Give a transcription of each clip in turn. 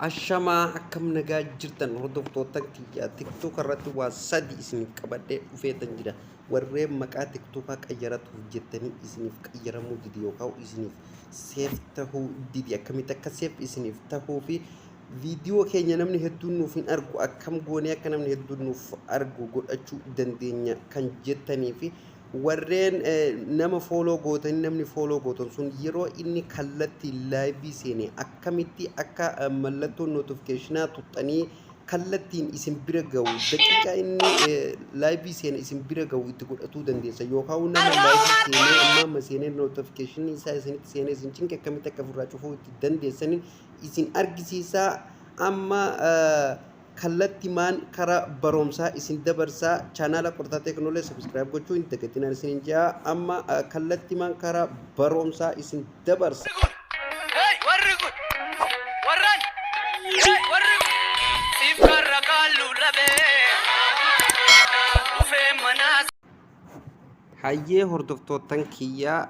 Ashamaa akkam nagaa jirtan hordoftoota kiyya tiktok irratti waa sadi isiniif qabadhee dhufeetan jira warreen maqaa tiktokaa qayyaratuuf jettanii isiniif qayyaramuu dide yookaan isiniif seef tahuu dide akkamitti akka seef isiniif tahuu fi viidiyoo keenya namni hedduun nuuf hin argu akkam goonee akka namni hedduun nuuf argu godhachuu dandeenya kan jettanii fi Warreen nama follow gootanii namni follow gootan sun yeroo inni kallattiin live seene akkamitti akka mallattoo notificationaa tuxxanii kallattiin isin bira ga'u daqiiqaa inni live seene isin bira ga'u itti godhatuu dandeessa yookaan nama live seenee amma amma seenee notification isaa isinitti seenee isin cinqe akkamitti akka ofirraa cufuu itti dandeessaniin isin argisiisaa amma kallatimaan kara baromsaa isin dabarsaa chanala qortaa teknole subscribe gochuu hin dagatinaa isinin jaa amma kallatimaan kara baromsaa isin dabarsa. Hey, warri kun! Warran! Hey, warri kun! Siif karra kaalluu dhabee. Dhufee manaa Hayyee hordoftoottan kiyyaa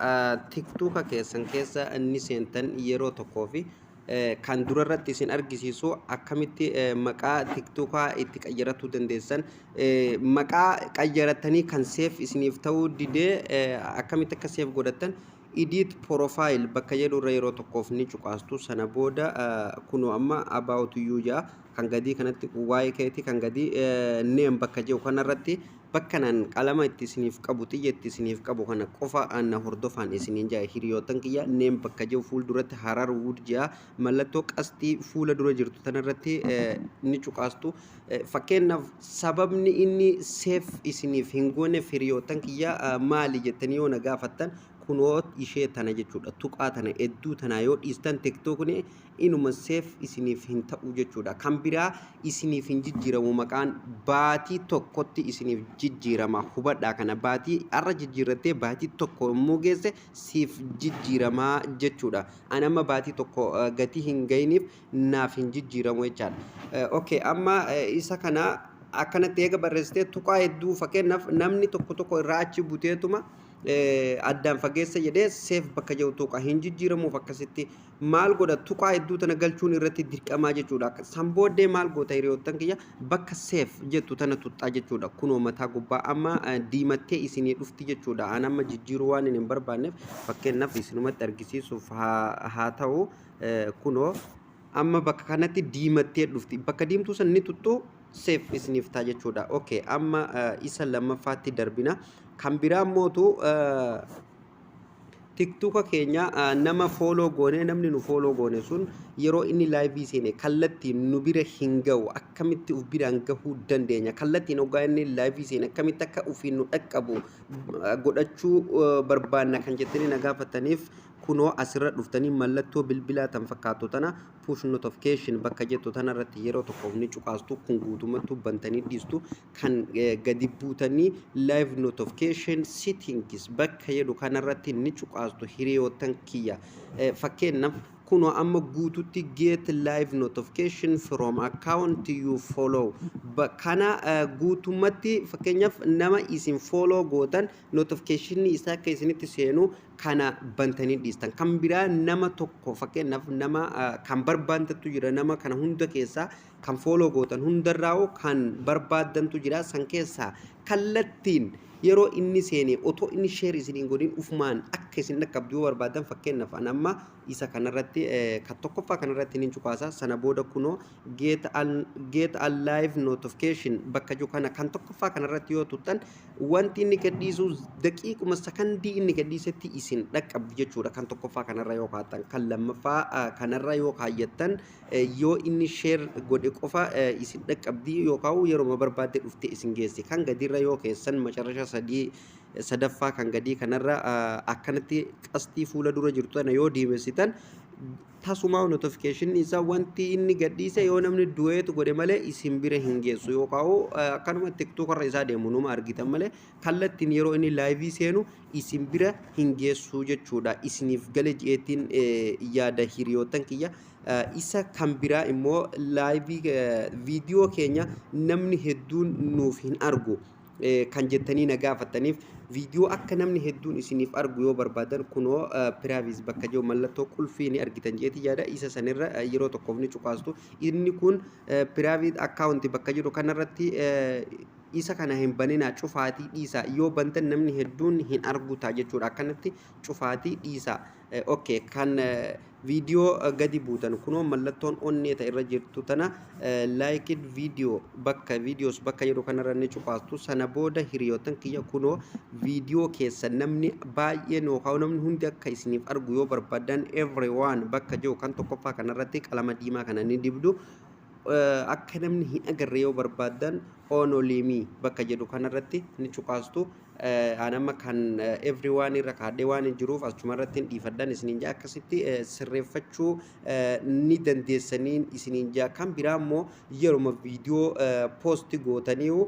tiktuuka keessan keessa ni seentan yeroo tokkoo fi kan dura irratti isin argisiisu akkamitti maqaa tiktokaa itti qayyaratuu dandeessan maqaa qayyaratanii kan seef isiniif ta'uu didee akkamitti akka seef godhattan edit profile bakka jedhu irra yeroo tokkoof ni cuqaastu sana booda kunoo amma about you jaa kan gadii kanatti waa'ee keetii kan gadii name bakka jedhu kanarratti Bakkan an qalama itti isiniif qabu xiyya itti isiniif qabu kana qofa an na hordofaan isiniin ja'a hiriyootan kiyya name bakka jiru fuul duratti harar wood ja'a mallattoo qasxii fuula dura jirtu tana irratti ni cuqaastu fakkeenyaaf sababni inni seef isiniif hin gooneef hiriyootan kiyya maali jettanii yoo na gaafattan kunoo ishee tana jechuudha tuqaa tana hedduu tanaa yoo dhiistan tiktookni inuma safe isiniif hin ta'u jechuudha. Kan biraa isiniif hin jijjiiramu maqaan baatii tokkotti isiniif jijjiirama. Hubadhaa kana baatii har'a jijjiirrattee baatii tokko immoo geesse siif jijjiiramaa jechuudha. Ani amma baatii tokko eh, gatii hin gahiniif naaf hin jijjiiramu jechaadha. Eh, Okay, amma eh, isa kana akkanatti eega barreessitee tuqaa hedduu fakkeenyaaf namni tokko tokko irraa achi buteetuma eh, addaan fageessa jedhee seef bakka jiru tuqa hin jijjiiramuuf akkasitti maal godha tuqaa hedduu tana galchuun irratti dirqamaa jechuudha akka san booddee maal goota hiriyoottan kiyya bakka seef jettu tana tuxxaa jechuudha kunoo mataa gubbaa amma eh, diimattee isinii dhufti jechuudha an amma jijjiiruu waan hin barbaanneef fakkeenyaaf isinumatti argisiisuuf haa haa ta'u eh, kunoo amma bakka kanatti diimattee dhufti bakka diimtuu san ni tuxxuu seef isiniif ta'a jechuudha okay amma eh, isa lammaffaatti darbina kan biraa mootu eh, tiktuka keenya nama fooloo goone namni nu fooloo goone sun yeroo inni laayivii seene kallattiin nu bira hin ga'u akkamitti uf biraan gahuu dandeenya kallattiin hoggaa inni laayivii seene akkamitti akka ufiin nu dhaqqabu godhachuu barbaanna kan jettanii na gaafataniif kunoo asirra dhuftanii mallattoo bilbilaa tan fakkaattu tana push notification bakka jettu tanarratti yeroo tokkoof ni cuqaastu kun guutummattuu bantanii dhiistu kan gadi buutanii live notification settings bakka jedhu kanarratti ni cuqaastu hiriyoottan kiyya fakkeenyaaf kunoo amma guututti get live notification from account you follow kana guutummatti fakkeenyaaf nama isin follow gootan notification isaa akka isinitti seenu kana bantanii dhiistan kan biraa nama tokko fakkeenyaaf nama kan barbaantattu jira nama kana hunda keessaa Kan follow gootan hundarraa'uu kan barbaaddantu jira. San keessaa kallattiin yeroo inni seenee otoo inni share isin hin godhin ufumaan akka isin dhaqqabdu yoo barbaaddan fakkeenyaaf an amma isa kanarratti kan tokkoffaa kanarratti nin cuqaasa sana booda kunoo get al get al live notification bakka jiru kana kan tokkoffaa kanarratti yoo tuttan wanti inni gadhiisu daqiiquma sakandii inni gadhiisetti isin dhaqqabdu jechuudha kan tokkoffaa kanarra yoo kaa'attan kan lammaffaa kanarra yoo kaayyattan Yoo inni share godhe qofa isin dhaqqabdi yookaan yeroma barbaadde dhufte isin geessi. Kan gadiirra yoo keessan macarasha sadii sadaffaa kan gadii kanarra akkanatti qasxii fuula dura jirtu tana yoo diimessitan tasumaa notification isaa wanti inni gadhiise yoo namni du'eetu godhe malee isin bira hin geessu yookaan akkanuma tiktok irra isaa deemu numa argitan malee kallattiin yeroo inni laayivii seenu isin bira hin geessu jechuudha isiniif gale jeetiin yaada hiriyoottan kiyya. Isa kan biraa immoo live video keenya namni hedduun nuuf hin argu kan jettanii na gaafattaniif video akka namni hedduun isiniif argu yoo barbaadan kunoo privacy bakka jiru mallattoo qulfii ni argitan jeeti yaada isa sanirra yeroo tokkoof ni cuqaastu inni kun private account bakka jiru kanarratti isa kana hin baninaa cufaatii dhiisaa yoo bantan namni hedduun hin argu ta'a jechuudha akkanatti cufaatii dhiisaa ok kan video gadi buutan kunoo mallattoon onnee ta irra jirtu tana liked video bakka videos bakka jedhu kanarra ni cuqaastu sana booda hiriyootan kiyya kunoo video keessa namni baay'een yookaan namni hundi akka isiniif argu yoo barbaadan everyone bakka jiru kan tokkoffaa kanarratti qalama diimaa kana ni dibdu akka namni hin agarre yoo barbaadan Onolimi bakka jedhu kanarratti ni cuqaastu. Aan amma kan everyone irra kaadhee waan hin jiruuf achuma irratti hin dhiifadhan isiniin jaa akkasitti sirreeffachuu ni dandeessaniin isiniin jaa kan biraa immoo yeruma viidiyoo poosti gootaniiru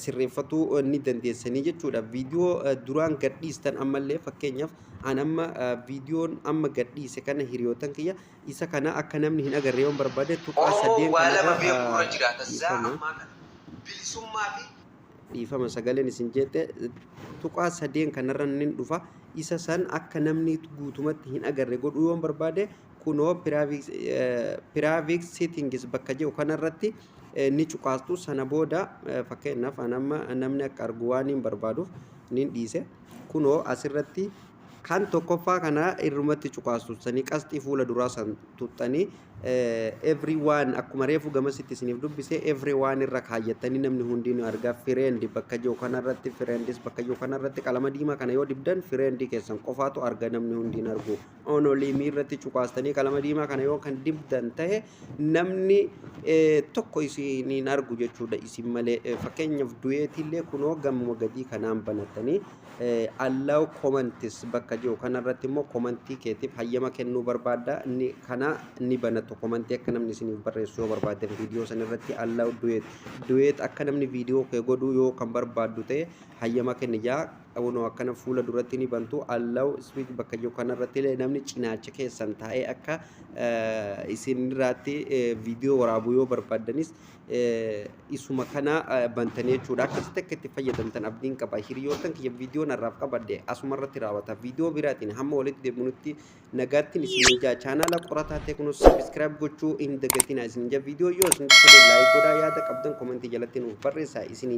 sirreeffatuu ni dandeessanii jechuudha. Viidiyoo duraan gadhiistan ammallee fakkeenyaaf aan amma viidiyoon amma gadhiise kana hiriyootan kiyya Isa kana akka namni hin agarre yoon barbaade tuqaa Oromoo saddeen waa lama kanarra beekuu irra jira. Tazzaa dhiifama. ammaa kana bilisummaa fi dhiifama sagaleen isin jeeqxe tuqaa sadeen kanarra nin dhufa isa san akka namni guutumatti hin agarre godhuu yoon barbaade kunoo piraaviks piraaviks seetingis bakka jedhu kanarratti eh, ni cuqaastu sana booda eh, fakkeenyaaf an amma namni akka argu waan hin barbaaduuf nin dhiise kunoo asirratti Kan tokkoffaa kana irrumatti cuqaastu sanii qasxii fuula duraa san tuxxanii everyone akkuma reefu gamasitti isiniif dubbise everyone irra kaayyattanii namni hundinuu argaa friend bakka jiru kanarratti friends bakka jiru kanarratti qalama diimaa kana yoo dibdan friend keessan qofaatu arga namni hundiin argu only me irratti cuqaastanii qalama diimaa kana yoo kan dibdan tahe namni eh, tokko isiniin argu jechuudha isin malee Eh, fakkeenyaaf du'eetiillee kunoo gamuma gadii kanaan banattanii Allow comments bakka jiru kanarratti immoo komantii keetiif hayyama kennuu barbaadda ni kana ni banatu komantii akka namni isiniif barreessu yoo barbaaddan viidiyoo san irratti allow duet duet akka namni viidiyoo kee godhuu yoo kan barbaaddu ta'e hayyama kenni jaa unoo akkana fuula duratti ni bantu allow speak bakka jiru kanarratti illee namni cinaacha keessan taa'ee akka isinirraatti viidiyoo waraabuu yoo barbaaddanis isuma kana bantanii jechuudha. Akkasitti akka itti fayyadamtan abdiin qaba. Hiriyoottan kiyya viidiyoon har'aaf qabadhe asuma irratti raawwata. Viidiyoo biraatiin hamma walitti deebinutti nagaattiin isin eegaa chaanaala qorataa teeknoo sabiskiraayib gochuu hin dagatinaa isin ija viidiyoo yoo isin tole laayik godhaa yaada qabdan komentii jalatti nuuf barreessaa isiniin